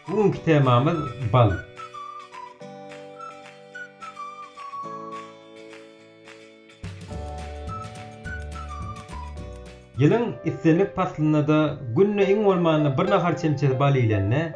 Bu günki temamyz bal. Ýylyň islendik paslynda-da günde iň bolmanda bir nahar çemçesi bal iýlende,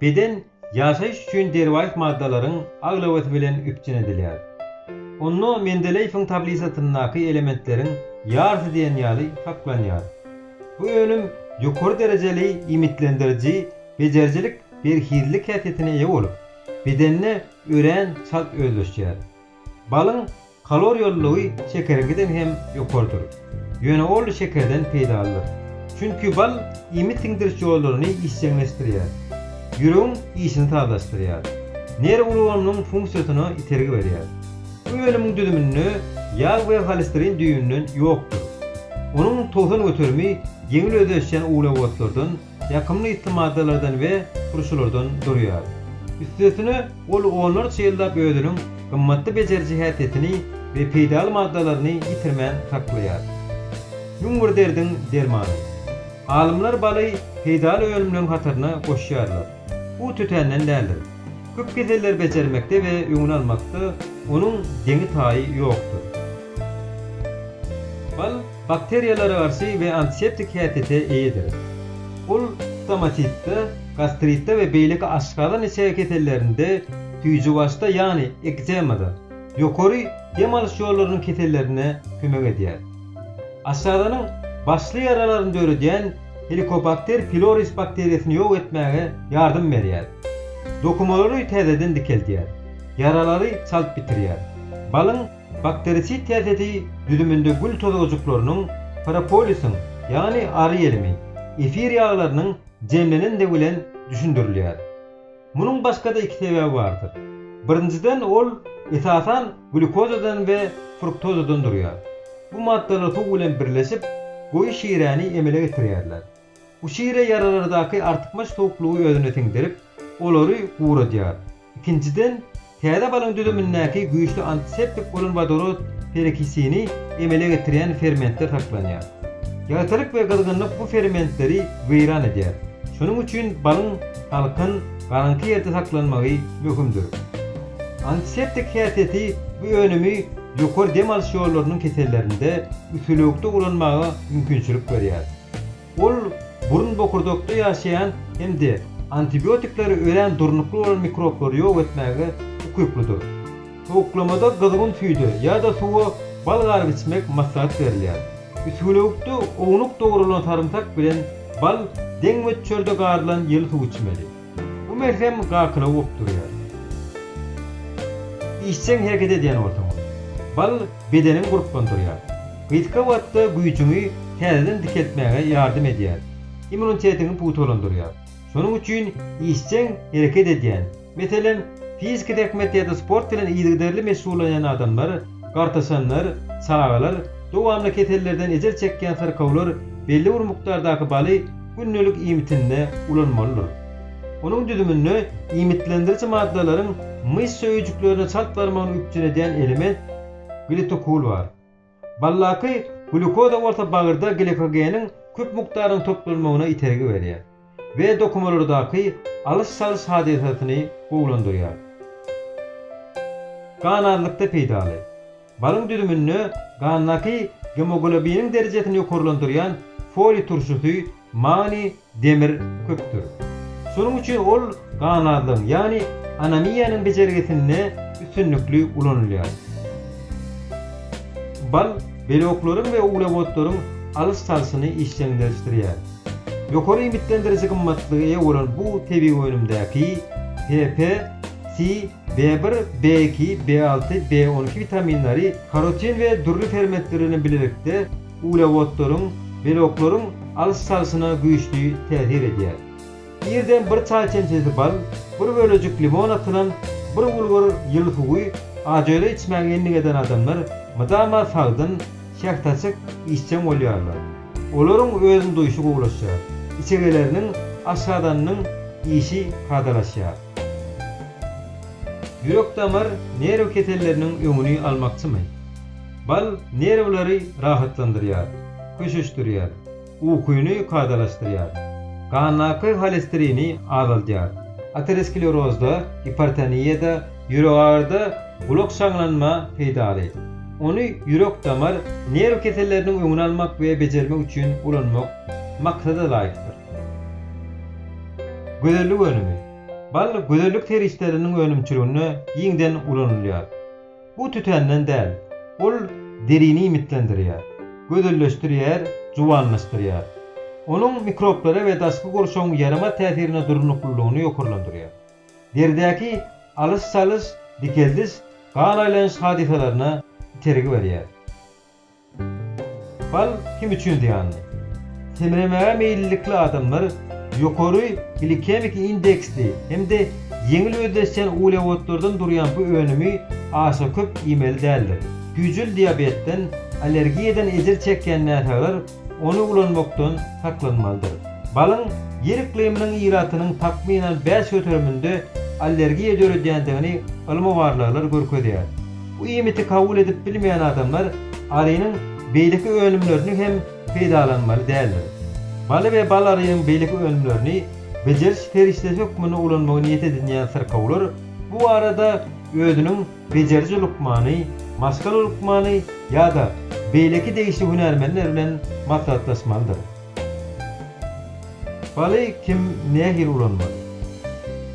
beden Ýaşaýyş üçin derwaýys maddalaryň aglabasy bilen üpjün edilýär. Onda Mendeleýewiň tablisasyndaky elementleriň ýarysy diýen ýaly saklanýar. Bu önüm ýokary derejeli iýmitlendiriji bejerijilik berhizlik häsiýetine eýe bolup, bedende örän çalt özleşýär. Balyň kaloriýalylygy şekeriňkiden hem ýokarydyr. Ýöne ol şekerden peýdalydyr. Çünki bal iýmit siňdiriş ýollaryny işjeňleşdirýär. Ýüregiň işini sazlaşdyrýar. Nerw ulgamynyň funksiýasyna itergi berýär. Bu önümiň düzüminde ýag we holesterin düýbünden ýokdur. Onuň towsan göterimi ýeňil özleşýän uglewodlardan, ýakymly ysly maddalardan we turşulardan durýar. Üstesine, ol onlarça ýyllap özüniň gymmatly bejeriji häsiýetini we peýdaly maddalaryny ýitirmän saklaýar. Müň bir derdiň dermany. Alymlar baly peýdaly önümleriň hataryna goşýarlar. Bu tötänden däldir. Köp keselleri bejermekde we öňüni almakda onuň deňi-taýy ýokdur. Bal, Bakteriýalara garşy we antiseptik häsiýete eýedir. Ol stomatitde, gastritde we beýleki aşgazan-içege kesellerinde, süýjübaşda, ýagny ekzemada, ýokary dem alyş ýollarynyň kesellerinde kömek edýär. Aşgazanyň başly ýaralaryny döredýän Helicobacter pyloris bakteriýasyny ýok etmäge ýardam berýär. Dokumalary täzeden dikeldýär. Ýaralary çalt bitirýär. Balyň. Bakterisid täsesi düzüminde gül tozgajyklarynyň, propolisiň, ýagny ary ýelimi, efir ýaglarynyň jemlenendigi bilen düşündirilýär. Munuň başga-da iki sebäbi bardyr. Birinjiden ol, esasan, glýukozadan we fruktozadan durýar. Bu maddalar suw bilen birleşip, goýy şiräni emele getirýärler. Bu şire ýaralardaky artykmaç suwuklygy özüne siňdirip, olary guradýar. Ikinjiden, täze balyň düzümindäki güýçli antiseptik bolan wodorod perokisini emele getirýän fermentler saklanýar. Ýagtylyk we gyzgynlyk bu fermentleri weýran edýär. Şonuň üçin balyň salkyn, garaňky ýerde saklanmagy möhümdir. Antiseptik häsiýeti bu önümi ýokary dem alyş ýollarynyň kesellerinde, üsülewükde ulanmaga mümkinçilik berýär. Ol burun bokurdakda ýaşaýan hem-de antibiotikleri örän durnukly bolan mikroblary ýok etmäge ukyplydyr. Sowuklamada gyzgyn süýde ýa-da suwa bal garyp içmek maslahat berilýär. Üsgülewükde ownuk dogrulan sarymsak bilen bal deň möçberde garylan ýyly suw içmeli. Bu melhem gakyla uwup durýar. Işjeň hereket edýän bolsaň, bal bedeniňi gurplandyrýar. Gysga wagtda güýjüňi täzeden dikeltmäge ýardam edýär, immunitetiňi pugtalandyrýar. Şonuň üçin işjeň hereket edýän, meselem, fiziki zähmet ýa-da sport bilen yzygiderli meşgullanýan adamlar Gartaşanlar, çagalar, dowamly kesellerden ejir çekýän syrkawlar belli bir mukdardaky baly gündelik iýmitinde ulanmalydyr. Onuň düzüminde iýmitlendiriji maddalaryň myşsa öýjüklerine çalt barmagyny üpjün edýän element glitokul bar. Baldaky glýukoza bolsa bagyrda glikogeniň köp mukdarynyň toplanmagyna itergi berýär. we dokumalardaky alyş-çalyş hadysasyny gowulandyrýar. Gan azlykda peýdaly. Balyň düzüminde gandaky gemoglobiniň derejesini ýokarlandyrýan foliý turşusy, magniý, demir köpdür. Şonuň üçin ol gan azlygyň, ýagny anemiýanyň bejergisinde üstünlikli ulanylýar. Bal beloklaryň we uglewodlaryň alyş-çalşyny işjeňleşdirýär. Ýokary iýmitlendiriji gymmatlyga eýe bolan bu tebigy önümdäki PP, Si, B-bir, B-iki, B-alty, B-oniki witaminleri karotin we dürli fermentler bilen bilelikde uglewodlaryň, beloklaryň alyş-çalşyna güýçli täsir edýär. Irden bir çaý çemçesi bal, bir bölejik limon atylan bir bulgur ýyly suwy ajöle içmäge endik eden adamlar mydama sagdyn, şähdaçyk, işjeň bolýarlar. Olaryň özüni duýşy gowulaşýar. Içegeleriniň, aşgazanynyň işi kadalaşýar. Ýürek-damar, nerw keselleriniň öňüni almakçymy? Bal nerwleri rahatlandyrýar, köşeşdirýär, ukyny kadalaşdyrýar. Gandaky holesterini azaldýar. Aterosklerozda, gipertoniýada, Ýüregagyryda gulak şaňlanma peýdaly. Ony ýürek-damar, nerw keselleriniň öňüni almak we bejermek üçin ulanmak maksada laýykdyr. Gözellik önümi. Bal gözellik serişdeleriniň önümçiliginde giňden ulanylýar. Bu tütänden däl. Ol derini iýmitlendirýär, gözelleşdirýär, juwanlaşdyrýar. Onuň mikroblara we daşky gurşawyň ýaramaz täsirine durnuklylygyny ýokarlandyrýar. deridäki alyş-çalyş, dikeldiş, gan aýlanyş hadysalaryna itergi berýär. Bal kim üçin zyýanly? Semremäge meýillilikli adamlar ýokary glikemiki indeksli hem-de ýeňil özleşýän uglewodlardan durýan bu önümi aşa köp iýmeli däldir. Güýjül diabetden, allergiýadan ejir çekýän näsaglar Ony ulanmakdan saklanmalydyr. Balyň ýer yklymynyň ilatynyň takmynan bäş göteriminde allergiýa döredýändigini ylmy barlaglar görkezýär. Bu iýmiti kabul edip bilmeýän adamlar arynyň beýleki önümlerini hem peýdalanmaly däldir. Baly we bal arynyň beýleki önümlerini bejeriş serişdesi hökmünde ulanmagy niýet edinýän syrkawlar bu barada özüniň bejeriji lukmany, maşgala lukmany ýa-da beýleki degişli hünärmenler bilen maslahatlaşmalydyr. Baly kim, nähili ulanmaly?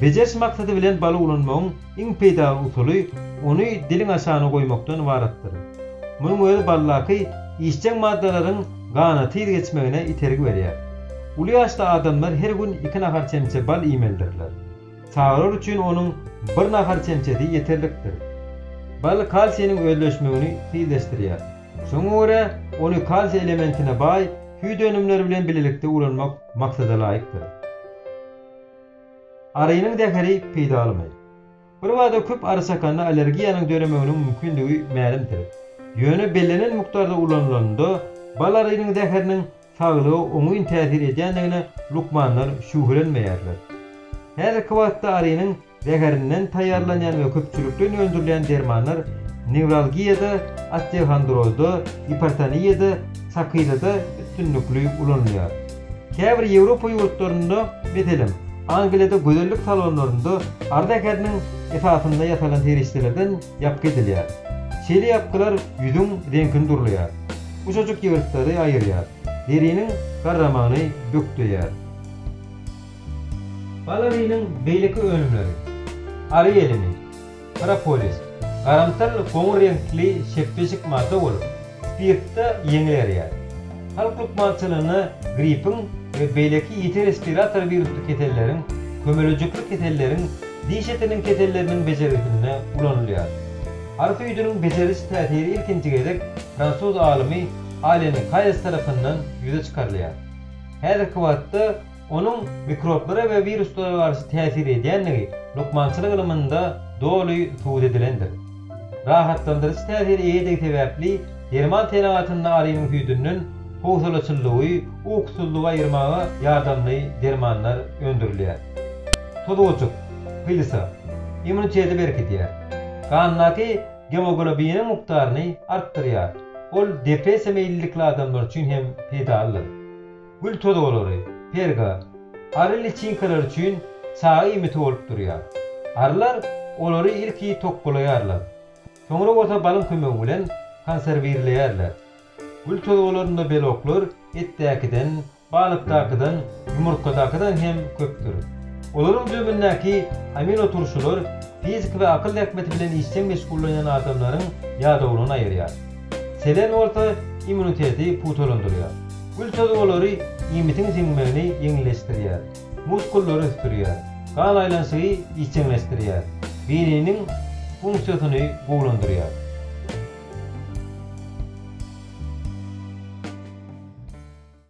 Bejeriş maksady bilen baly ulanmagyň iň peýdaly usuly ony diliň aşagyna goýmakdan ybaratdyr. Munuň özi baldaky işjeň maddalaryň gana tiz geçmegine itergi berýär. Uly ýaşly adamlar her gün iki nahar çemçe bal iýmelidirler. Çagalar üçin onuň bir nahar çemçesi ýeterlikdir. Bal kalsiniň özleşmegini tizleşdirýär. Şoňa görä, ony kalsiý elementine baý süýt önümleri bilen bilelikde ulanmak maksadalaýykdyr. Arynyň zäheri peýdalymy? Birbada köp ary çakanda allergiýanyň döremeginiň mümkindigi mälimdir. Ýöne bellenen mukdarda ulanylanda, bal arynyň zäheriniň saglyga oňyn täsir edýändigine lukmanlar şübhelenmeýärler. Häzirki wagtda arynyň zäherinden taýýarlanýan we köpçülikleýin öndürilýän dermanlar newralgiýada, osteohondrozda, gipertoniýada, sakyzada üstünlikli ulanylýar. Käbir Ýewropa ýurtlarynda, meselem, Angliýada gözellik salonlarynda ary zäheriniň esasynda ýasalan serişdelerden ýapgy edilýär. Şeýle ýapgylar ýüzüň reňkini durlaýar. Gujajyk ýygyrtlary aýyrýar. Deriniň garramagyny bökdeýär. Balarynyň beýleki önümleri, ary ýelimi, propolis, garamtyl goňur reňkli şepbeşik madda bolup, spirtde ýeňil erýär. Halk lukmançylygynda grippiň we beýleki ýiti respirator wirusly keselleriň, kömelejikli keselleriň, diş etiniň keselleriniň bejergisinde ulanylýar. Ary süýdüniň bejeriş täsiri ilkinji gezek fransuz alymy Allen Kaýes tarapyndan ýüze çykarylýar. Häzirki wagtda onuň mikroblara we wiruslara garşy täsir edýändigi lukmançylyk ylymynda doly subut edilendir. Rahatlandyryjy täsire eýedigi sebäpli derman senagatynda alymyň süýdünden howsalaçyllygy, ukusyzlygy aýyrmaga ýardamly dermanlar öndürilýär. Tozgujyk, hylysa, immuniteti berkidýär. Gandaky Gemoglobiniň mukdaryny artdyrýar. Ol depressiýa meýillilikli adamlar üçin hem peýdalydyr. Gül tozalary, perga, ary liçinkalary üçin çaga iýmiti bolup durýar. Arylar olary ilki tokgalaýarlar. Soňra bolsa balyň kömegi bilen konserwirleýärler. Gül tozgalarynda beloklar etdäkiden Balykdakydan, ýumurtgadakydan hem köpdür. Olaryň düzümindäki aminoturşular fiziki we akyl zähmeti bilen işjeň meşgullanýan adamlaryň ýadawlygyny aýyrýar. Selen bolsa immuniteti pugtalandyrýar. Gül tozy olary iýmitiň siňmegini ýeňilleşdirýär, muskullary ösdürýär, gan aýlanyşygy işjeňleşdirýär, beýniniň funksiýasyny gowulandyrýar.